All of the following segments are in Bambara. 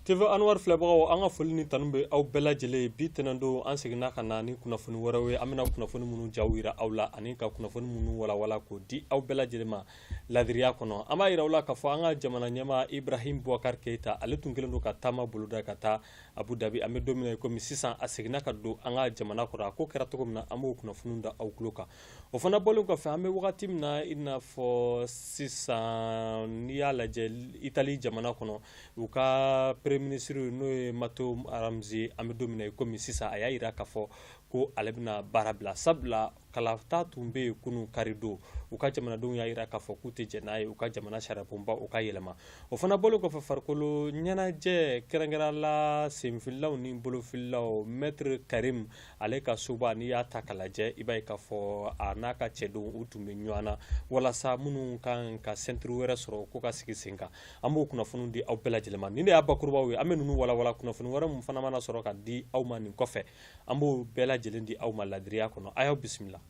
TV Anwar filɛbagaw an ka foli ni tanu bɛ aw bɛɛ lajɛlen ye bi tɛnɛndon an seginna ka na ni kunnafoni wɛrɛw ye an bɛna kunnafoni minnu jaw jira aw la ani ka kunnafoni minnu walawala k'o di aw bɛɛ lajɛlen ma laadiriya kɔnɔ an b'a jira aw la k'a fɔ an ka jamana ɲɛmaa Ibrahim Boubacar Keita ale tun kɛlen don ka taama boloda ka taa Abu Dhabi an bɛ don min na i komi sisan a seginna ka don an ka jamana kɔnɔ a ko kɛra cogo min na an b'o kunnafoniw da aw tulo kan o fana bɔlen kɔfɛ an bɛ wagati min na i n'a fɔ sisan n'i y'a lajɛ itali jamana kɔnɔ u ka premier ministre n'o ye matteo renzi an bɛ don min na i komi sisan a y'a jira k'a fɔ ko ale bɛna baara bila sabula kalata tun bɛ yen kunun karidon u ka jamanadenw y'a jira k'a fɔ k'u tɛ jɛn n'a ye u ka jamana sariyabonba o ka yɛlɛma o fana bɔlen kɔfɛ farikolo ɲɛnajɛ kɛrɛnkɛrɛnnenya la senfililaw ni bolofililaw mɛtiri karim ale ka soba n'i y'a ta k'a lajɛ i b'a ye k'a fɔ a n'a ka cɛdenw u tun bɛ ɲɔgɔn na walasa minnu kan ka ceinture wɛrɛ sɔrɔ ko ka sigi sen kan an b'o kunnafoni di aw bɛɛ lajɛlen ma nin de y'a bakurubaw ye an bɛ ninnu walawala kunnafoni wɛrɛ min fana mana sɔrɔ ka di aw ma nin kɔfɛ an b'o bɛɛ lajɛlen di aw ma laadiriya kɔnɔ a y'aw bisimila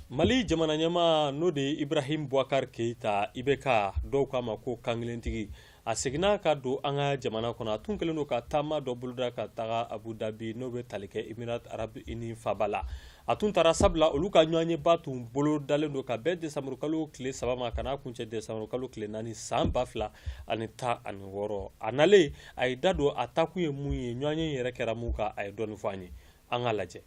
mali jamana ɲɛmaa n'o de ye ibrahim boubacar keita IBK dɔw k'a ma ko kankelentigi a seginna ka don an ka jamana kɔnɔ a tun kɛlen don ka taama dɔ boloda ka taga abu dabi n'o bɛ tali kɛ émirats arabes unis faba la a tun taara sabula olu ka ɲɔgɔnyeba tun bolodalen don ka bɛn desanburukalo tile saba ma ka n'a kuncɛ desanburukalo tile naani san ba fila ani tan ani wɔɔrɔ a nalen a ye da don a taakun ye mun ye ɲɔgɔnye yɛrɛ kɛra mun kan a ye dɔɔni fɔ an ye an k'a lajɛ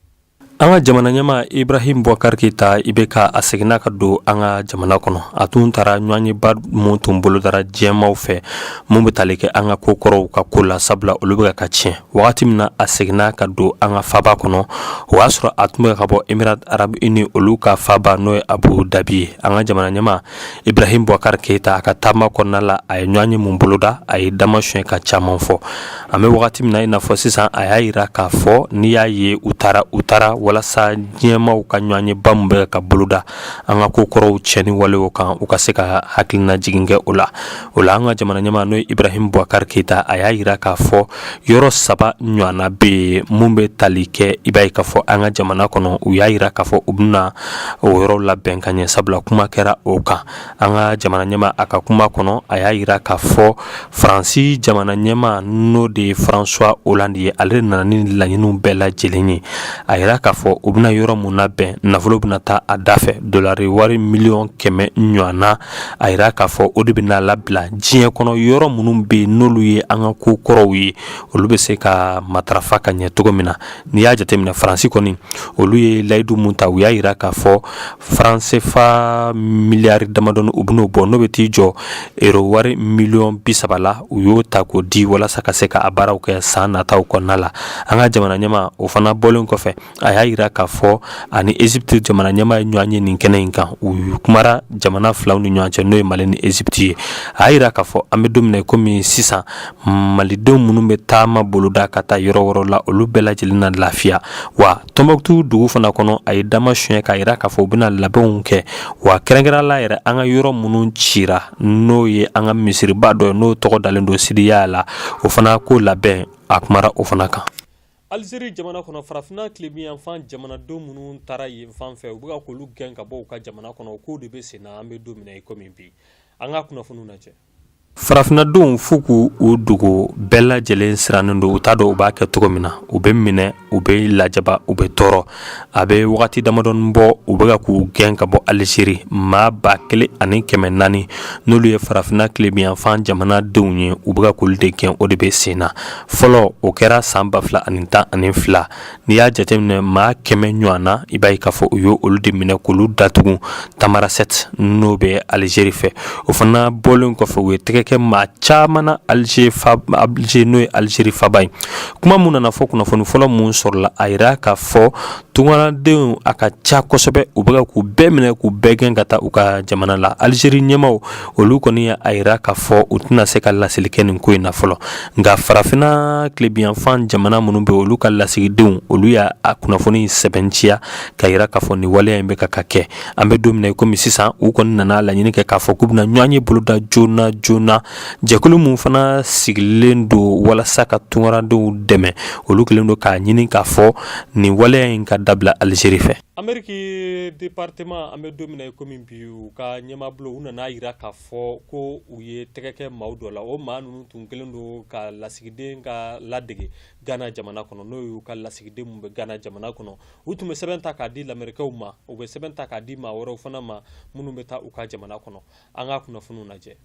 an ka jamana ɲɛmaa ibrahim boubacar keita IBK a seginna ka don an ka jamana kɔnɔ a tun taara ɲɔgɔnyeba min tun bolodara diɲɛmaw fɛ min bɛ tali kɛ an ka kokɔrɔw ka ko la sabula olu bɛ ka tiɲɛ wagati min na a seginna ka don an ka faba kɔnɔ o y'a sɔrɔ a tun bɛ ka bɔ émirats arabes unis olu ka faba n'o ye abu dabi ye an ka jamana ɲɛmaa ibrahim boubacar keita a ka taama kɔnɔna la a ye ɲɔgɔnye min boloda a ye dama son ka caman fɔ an bɛ wagati min na i n'a fɔ sisan a y'a jira k'a fɔ n'i y'a ye u taara u taara walasa diɲɛmaw ka ɲɔgɔnyeba min bɛ ka boloda an ka kokɔrɔw tiɲɛni walew kan u ka se ka hakilina jigin kɛ o la o la an ka jamana ɲɛmaa n'o ye ibrahim boubacar keita a y'a jira k'a fɔ yɔrɔ saba ɲɔgɔnna bɛ yen minnu bɛ tali kɛ i b'a ye k'a fɔ an ka jamana kɔnɔ u y'a jira k'a fɔ u bɛna o yɔrɔ labɛn ka ɲɛ sabula kuma kɛra o kan an ka jamana ɲɛmaa a ka kuma kɔnɔ a y'a jira k'a fɔ faransi jamana ɲɛmaa n'o de ye françois hollande ye ale nana ni laɲiniw bɛɛ lajɛlen ye a jira k'a fɔ u bɛna yɔrɔ minnu labɛn nafolo bɛna taa a da fɛ dolari wari miliyɔn kɛmɛ ɲɔgɔnna a yira k'a fɔ o de bɛn'a labila diɲɛ kɔnɔ yɔrɔ minnu bɛ yen n'olu ye an ka kokɔrɔw ye olu bɛ se ka matarafa ka ɲɛ cogo min na n'i y'a jateminɛ faransi kɔni olu ye layidu mun ta u y'a yira k'a fɔ faran sefa miliyari damadɔni u bɛn'o bɔ n'o bɛ t'i jɔ ero wari miliyɔn bi saba la u y'o ta k'o di walasa ka se ka a baaraw kɛ san nataw kɔnɔna la an ka jamana ɲɛmaa o fana bɔlen kɔfɛ a y'a yira k'a fɔ ani ezipiti jamana ɲɛmaa ye ɲɔgɔn ye nin kɛnɛ in kan u kumara jamana filaw ni ɲɔgɔn cɛ n'o ye mali ni ezipiti ye a y'a yira k'a fɔ an bɛ don min na komi sisan malidenw minnu bɛ taama boloda ka taa yɔrɔ yɔrɔ la olu bɛɛ lajɛlen na lafiya wa tɔnbukutu dugu fana kɔnɔ a ye dama sonɲɛ k'a yira k'a fɔ u bɛna labɛnw kɛ wa kɛrɛnkɛrɛnnenya la yɛrɛ an ka yɔrɔ minnu cira n'o ye an ka misiriba dɔ ye n'o tɔgɔ dalen don sidiya la o fana ko labɛn a kumara o fana kan alizeri jamana kɔnɔ farafinna tilebinyanfan jamanadenw minnu taara yen fan fɛ u bɛ ka k'olu gɛn ka bɔ u ka jamana kɔnɔ o kow de bɛ sen na an bɛ don min na i komi bi an ka kunnafoniw lajɛ farafinnadenw f'u k'u dogo bɛɛ lajɛlen sirannen don u t'a dɔn u b'a kɛ cogo min na u bɛ minɛ u bɛ lajaba u bɛ tɔɔrɔ a bɛ wagati damadɔni bɔ u bɛka k'u gɛn ka bɔ alizeri maa ba kelen ani kɛmɛ naani n'olu ye farafinna tilebiyanfan jamanadenw ye u bɛka k'olu de gɛn o de bɛ sen na fɔlɔ o kɛra san ba fila ani tan ani fila n'i y'a jateminɛ maa kɛmɛ ɲɔgɔnna i b'a ye k'a fɔ u ye olu de minɛ k'olu datugu tamarasɛte n'o bɛ alizeri fɛ o fana bɔlen kɔfɛ u ye tɛgɛ kɛ maa caman na alize alize n'o ye alizeri faba ye kuma min nana fɔ kunnafoni fɔlɔ minnu sɔrɔla a yira k'a fɔ tunkarandenw a ka ca kosɛbɛ u bɛ k'u bɛɛ minɛ k'u bɛɛ gɛn ka taa u ka jamana la alizeri ɲɛmaaw olu kɔni y'a yira k'a fɔ u tɛna se ka laseli kɛ nin ko in na fɔlɔ nka farafinna tilebiyanfan jamana minnu bɛ olu ka lasigidenw olu y'a kunnafoni sɛbɛnciya k'a yira k'a fɔ nin waleya in bɛ ka ka kɛ an bɛ don min na i komi sisan u kɔni nana laɲini kɛ k'a fɔ k'u bɛna ɲɔgɔnye boloda joona joona jɛkulu min fana sigilen don walasa ka tunkarandenw dɛmɛ olu kɛlen don k'a ɲini k'a fɔ nin waleya in ka dabila alizeri fɛ ameriki departeman an bɛ don min na i komi bi u ka ɲɛmabolo u nan'a yira k'a fɔ ko u ye tɛgɛ kɛ maaw dɔ la o maa ninnu tun kɛlen don ka lasigiden ka ladege gana jamana kɔnɔ n'o y'u ka lasigiden min bɛ gana jamana kɔnɔ u tun bɛ sɛbɛn ta k'a di lamerikɛw ma u bɛ sɛbɛn ta k'a di maa wɛrɛw fana ma minnu bɛ taa u ka jamana kɔnɔ an ka kunnafoniw lajɛ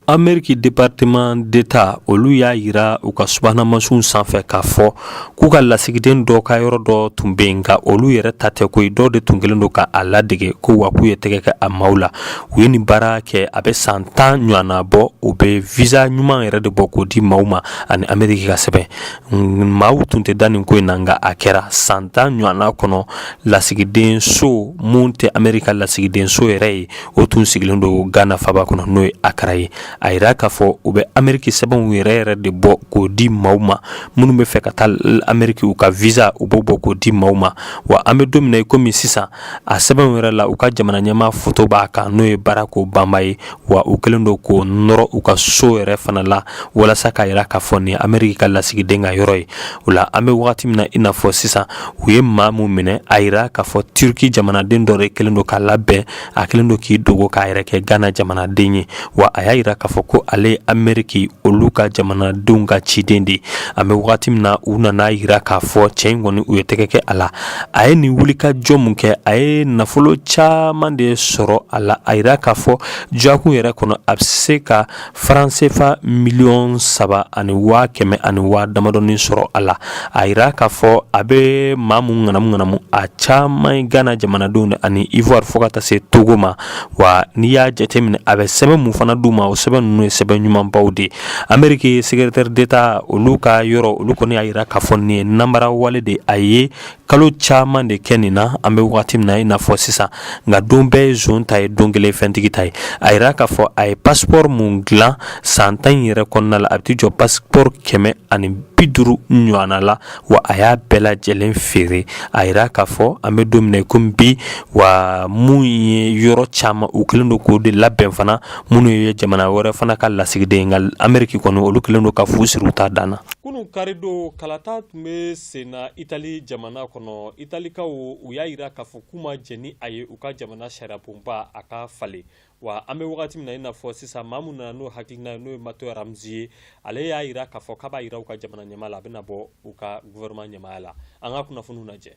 ameriki departeman deta olu y'a yira u ka subahanamasinw sanfɛ k'a fɔ k'u ka lasigiden dɔ ka yɔrɔ dɔ tun bɛ yen nka olu yɛrɛ ta tɛ koyi dɔw de tun kɛlen don ka a ladege ko wa k'u ye tɛgɛ kɛ a maaw la u ye nin baara kɛ a bɛ san tan ɲɔgɔnna bɔ u bɛ visa ɲuman yɛrɛ de bɔ k'o di maaw ma ani ameriki ka sɛbɛn Maaw tun tɛ da nin ko in na nka a kɛra san tan ɲɔgɔnna kɔnɔ lasigiden so mun tɛ ameriki ka lasigiden so yɛrɛ ye o tun sigilen don gana faba kɔnɔ n'o ye Accra ye a yira k'a fɔ u bɛ ameriki sɛbɛnw yɛrɛ yɛrɛ de bɔ k'o di maaw ma minnu bɛ fɛ ka taa ameriki u ka visa u b'o bɔ k'o di maaw ma wa an bɛ don min na i komi sisan a sɛbɛnw yɛrɛ la u ka jamana ɲɛmaa foto b'a kan n'o ye Barack Obama ye wa u kɛlen don k'o nɔrɔ u ka so yɛrɛ fana la walasa k'a yira k'a fɔ nin ameriki ka lasigiden ka yɔrɔ ye o la an bɛ wagati min na i n'a fɔ sisan u ye maa min minɛ a yira k'a fɔ turki jamanaden dɔ de kɛlen don k'a labɛn a kɛlen don k'i dogo k'a yɛrɛ kɛ ghana jamanaden ye wa a y'a yira k'a fɔ ko ale ye ameriki olu ka jamanadenw ka ciden de an bɛ wagati min na u nana a yira k'a fɔ cɛ in kɔni u ye tɛgɛ kɛ a la a ye nin wulikajɔ min kɛ a ye nafolo caman de sɔrɔ a la a yira k'a fɔ jakun yɛrɛ kɔnɔ a bɛ se ka faran sefa miliyɔn saba ani waa kɛmɛ ani waa damadɔnin sɔrɔ a la a yira k'a fɔ a bɛ maa min ŋanamu ŋanamu a caman ye gana jamanadenw de ani ivoire fo ka taa se togo ma wa n'i y'a jateminɛ a bɛ sɛbɛn min fana d'u ma o sɛbɛn ninnu ye sɛbɛn ɲumanbaw de ameriki secrétaire d'État olu ka yɔrɔ olu kɔni y'a yira k'a fɔ nin ye nanbara wale de a ye kalo caman de kɛ nin na an bɛ wagati min na i n'a fɔ sisan nka don bɛɛ ye zon ta ye don kelen fɛntigi ta ye a yira k'a fɔ a ye passeport mun dilan san tan in yɛrɛ kɔnɔna la a bɛ t'i jɔ passeport kɛmɛ ani bi duuru ɲɔgɔnna la wa a y'a bɛɛ lajɛlen feere a yira k'a fɔ an bɛ don min na komi bi wa mun ye yɔrɔ caman u kɛlen don k'o de labɛn fana minnu ye jamana wɛrɛ fana ka lasigiden nka ameriki kɔni olu kɛlen don ka fu siri u ta dan na kunun karidon kalata tun bɛ sen na itali jamana kɔnɔ italikaw u y'a yira k'a fɔ k'u ma jɛn ni a ye u ka jamana sariyabonba a ka falen Wa an bɛ wagati min na i n'a fɔ sisan maa min nana n'o hakilina ye n'o ye Matteo Renzi ye ale y'a yira k'a fɔ k'a b'a yira u ka jamana ɲɛmaa la a bɛna bɔ u ka gouvernement ɲɛmaaya la an ka kunnafoniw lajɛ.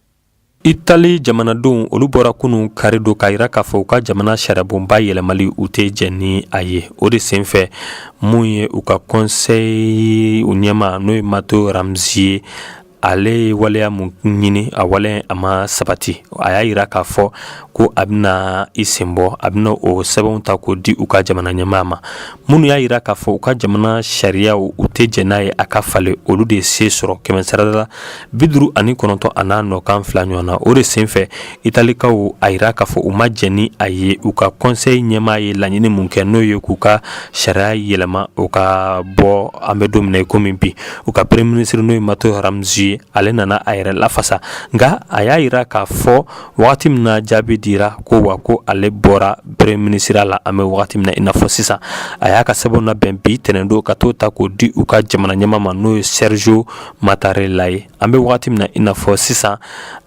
Itali jamanadenw olu bɔra kunun kari don k'a yira k'a fɔ u ka jamana sariyabonba yɛlɛmali u tɛ jɛn ni a ye o de senfɛ mun ye u ka conseil ɲɛmaa n'o ye Matteo Renzi ye ale ye waleya mun ɲini a waleya a ma sabati a y'a yira k'a fɔ ko a bɛna i sen bɔ a bɛna o sɛbɛnw ta k'o di u ka jamana ɲɛmaa ma minnu y'a yira k'a fɔ u ka jamana sariyaw u tɛ jɛn n'a ye a ka falen olu de se sɔrɔ kɛmɛsarada la bi duuru ani kɔnɔntɔn a n'a nɔkan fila ɲɔgɔn na o de senfɛ Italikaw a yira k'a fɔ u ma jɛn ni a ye u ka conseil ɲɛmaa ye laɲini min kɛ n'o ye k'u ka sariya yɛlɛma u ka bɔ an bɛ don min na i komi bi u ka premier minisiri n'o ye Matteo Renzi ye ale nana a yɛrɛ lafasa nka a y'a yira k'a fɔ wagati min na jaabi dira ko wa ko ale bɔra premier minisiriya la an bɛ wagati min na i n'a fɔ sisan a y'a ka sɛbɛn labɛn bi tɛnɛndo ka t'o ta k'o di u ka jamana ɲɛmaa ma n'o ye Sergio Mattarella ye An bɛ waati min na i n'a fɔ sisan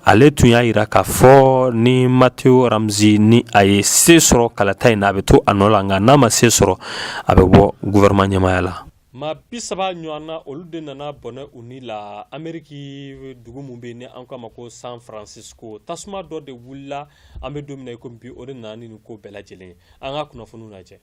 ale tun y'a yira k'a fɔ ni Matteo Renzi ni a ye se sɔrɔ kalata in na a bɛ to a nɔ la nka n'a ma se sɔrɔ a bɛ bɔ gouvernement ɲɛmaaya la maa bi saba ɲɔgɔn na olu de nana bɔnɛ u ni la ameriki dugu min bɛ yen ni an k'a ma ko san francisco tasuma dɔ de wulila an bɛ don min na i komi bi o de nana ni nin ko bɛɛ lajɛlen ye an ka kunnafoniw lajɛ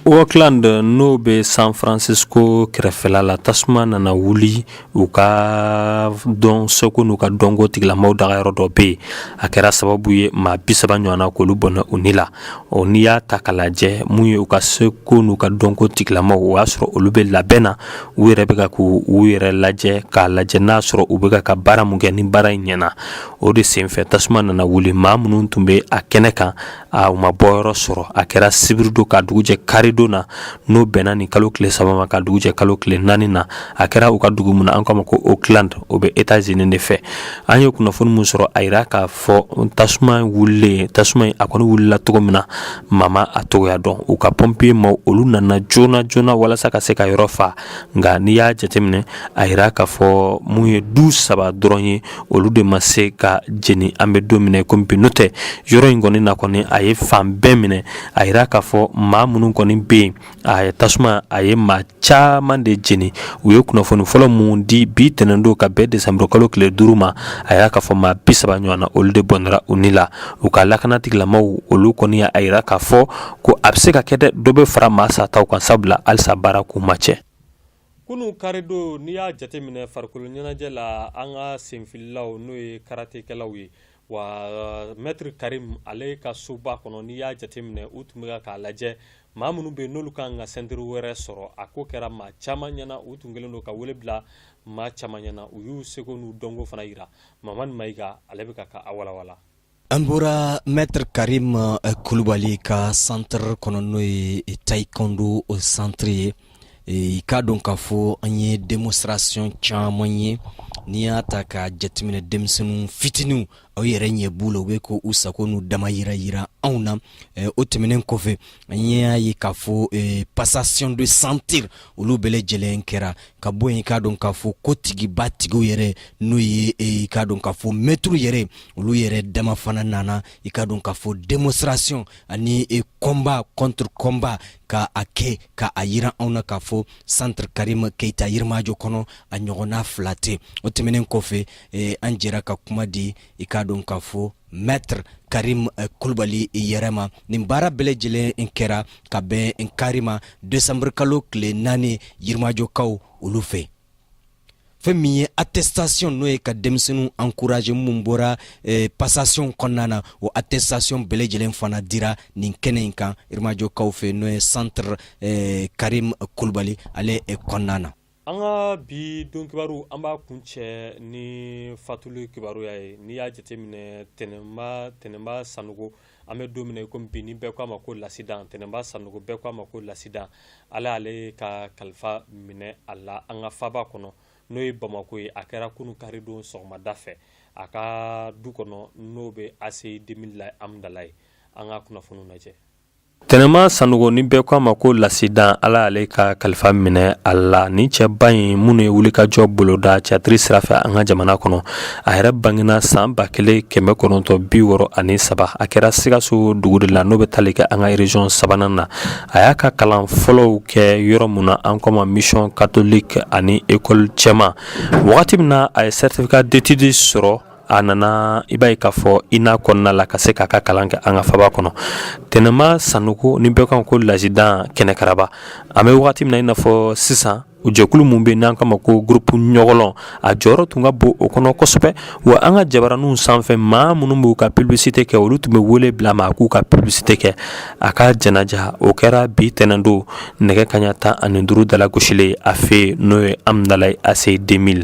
Oakland n'o bɛ san francisco kɛrɛfɛla la tasuma nana wuli u ka dɔn seko n'u ka dɔnko tigilamaw dagayɔrɔ dɔ bɛ yen a kɛra sababu ye maa bi saba ɲɔgɔn na k'olu bɔnɛ u ni la o n'i y'a ta k'a lajɛ min ye u ka seko n'u ka dɔnko tigilamaw o y'a sɔrɔ olu bɛ labɛn na u yɛrɛ bɛ k'u yɛrɛ lajɛ k'a lajɛ n'a sɔrɔ u bɛ ka baara min kɛ ni baara in ɲɛna o de senfɛ tasuma nana wuli maa minnu tun bɛ a kɛnɛ kan a u ma bɔyɔrɔ sɔrɔ a kɛra sibiri don ka dugu jɛ karidon na n'o bɛnna ni kalo tile saba ma ka dugu jɛ kalo tile naani na a kɛra u ka dugu min na an k'a ma ko oakland o bɛ etazini de fɛ an ye kunnafoni min sɔrɔ a yira k'a fɔ tasuma wulilen tasuma in a kɔni wulila cogo min na maa ma a cogoya dɔn u ka pɔnpiye maa olu nana joona joona walasa ka se ka yɔrɔ faa nka n'i y'a jateminɛ a yira k'a fɔ mun ye du saba dɔrɔn ye olu de ma se ka jeni an bɛ don min na i ko bi n'o tɛ yɔrɔ in kɔni na kɔni a ye fan bɛɛ minɛ a yira k'a fɔ maa minnu kɔni bɛ yen a ye tasuma a ye maa caman de jeni u ye kunnafoni fɔlɔ min di bi tɛnɛn don ka bɛn desanburu kalo tile duuru ma a yira k'a fɔ maa bi saba ɲɔgɔn na olu de bɔnɛra u ni la u ka lakana tigilamaw olu kɔni y'a yira k'a fɔ ko a bɛ se ka kɛ dɛ dɔ bɛ fara maa sataw kan sabula halisa baara kun ma cɛ kunu karido n'i y'a jateminɛ farikolo ɲɛnajɛ la an ka senfililaw n'o ye karatekɛlaw ye wa mɛtiri karim ale ka soba kɔnɔ n'i y'a jateminɛ u tun bɛ k'a lajɛ maa minnu bɛ yen n'olu kan ka sɛntiri wɛrɛ sɔrɔ a ko kɛra maa caman ɲɛna u tun kɛlen don ka wele bila maa caman ɲɛna u y'u seko n'u dɔnko fana yira mamani mayiga ale bɛ ka ka a walawala An bɔra maitre Karim kulubali ka centre kɔnɔ n'o ye taekwondo centre ye, i k'a dɔn k'a fɔ an ye demonstration caman ye, n'i y'a ta ka jateminɛ denmisɛnnin fitininw aw yɛrɛ ɲɛ b'u la u bɛ k'u sago n'u dama yira yira anw na. eh, o tɛmɛnen kɔfɛ an y'a ye k'a fɔ eh, passation de ceinture olu bɛɛ lajɛlen kɛra ka bɔ yen i k'a dɔn k'a fɔ ko tigiba tigiw yɛrɛ n'o ye eh, i k'a dɔn k'a fɔ mɛtiriw yɛrɛ olu yɛrɛ dama fana nana i k'a dɔn k'a fɔ démonstration ani eh, combat contre combat ka a kɛ ka a yira anw na k'a fɔ centre karim keita yirimajɔ kɔnɔ a ɲɔgɔnna fila tɛ o tɛmɛnen kɔfɛ eh, an jɛra ka kuma di i k'a dɔn k'a fɔ maitre karim eh, kulubali yɛrɛ ma nin baara bɛɛ lajɛlen in kɛra ka bɛn nin kari ma desanburukalo tile naani yirimajɔkaw olu fɛ fɛn min ye attestation n'o ye ka denmisɛnninw encourager minnu bɔra eh, passation kɔnɔna na o attestation bɛɛ lajɛlen fana dira nin kɛnɛ in kan yirimajɔkaw fɛ n'o ye centre eh, karim kulubali ale eh, kɔnɔna na An ka bi don kibaru an b'a kuncɛ ni fatuli kibaruya ye n'i y'a jateminɛ Tɛnɛman Tɛnɛman Sanɔgɔ an bɛ don min na i komi bi ni bɛɛ k'a ma ko Lasidan Tɛnɛman Sanɔgɔ bɛɛ k'a ma ko Lasidan Ala y'ale ka kalifa minɛ a la an ka faaba kɔnɔ n'o ye Bamako ye a kɛra kunu karidon sɔgɔmada fɛ a ka du kɔnɔ n'o bɛ ACI 2000 la Amudalayi an ka kunnafoniw lajɛ Tɛnɛman Sanɔgɔ ni bɛɛ k'a ma ko Lasidan Ala y'ale ka kalifa minɛ a la nin cɛba in minnu ye wulikajɔ boloda tiyatiri sira fɛ an ka jamana kɔnɔ a yɛrɛ bangena san ba kelen kɛmɛ kɔnɔntɔn bi wɔɔrɔ ani saba a kɛra sikaso dugu de la n'o bɛ tali kɛ an ka région sabanan na a y'a ka kalan fɔlɔw kɛ yɔrɔ min na an k'o ma mission catholique ani ekɔli cɛman wagati min na a ye certificat d'études sɔrɔ a nana i b'a ye k'a fɔ INA kɔnɔna la ka se k'a ka kalan kɛ an ka faaba kɔnɔ Tɛnɛman Sanɔgɔ ni bɛɛ k'a ma ko Lasidan kɛnɛkaraba an bɛ wagati min na i n'a fɔ sisan u jɛkulu minnu bɛ n'an k'a ma ko groupe Ɲɔgɔlɔn a jɔyɔrɔ tun ka bon o kɔnɔ kosɛbɛ wa an ka jabaraninw sanfɛ maa minnu b'u ka publicité kɛ olu tun bɛ wele bila a ma a k'u ka publicité kɛ a ka janaja o kɛra bi tɛnɛn don nɛgɛ kaɲa tan ani duuru dalagosilen a fɛ n'o ye Amudalayi ACI 2000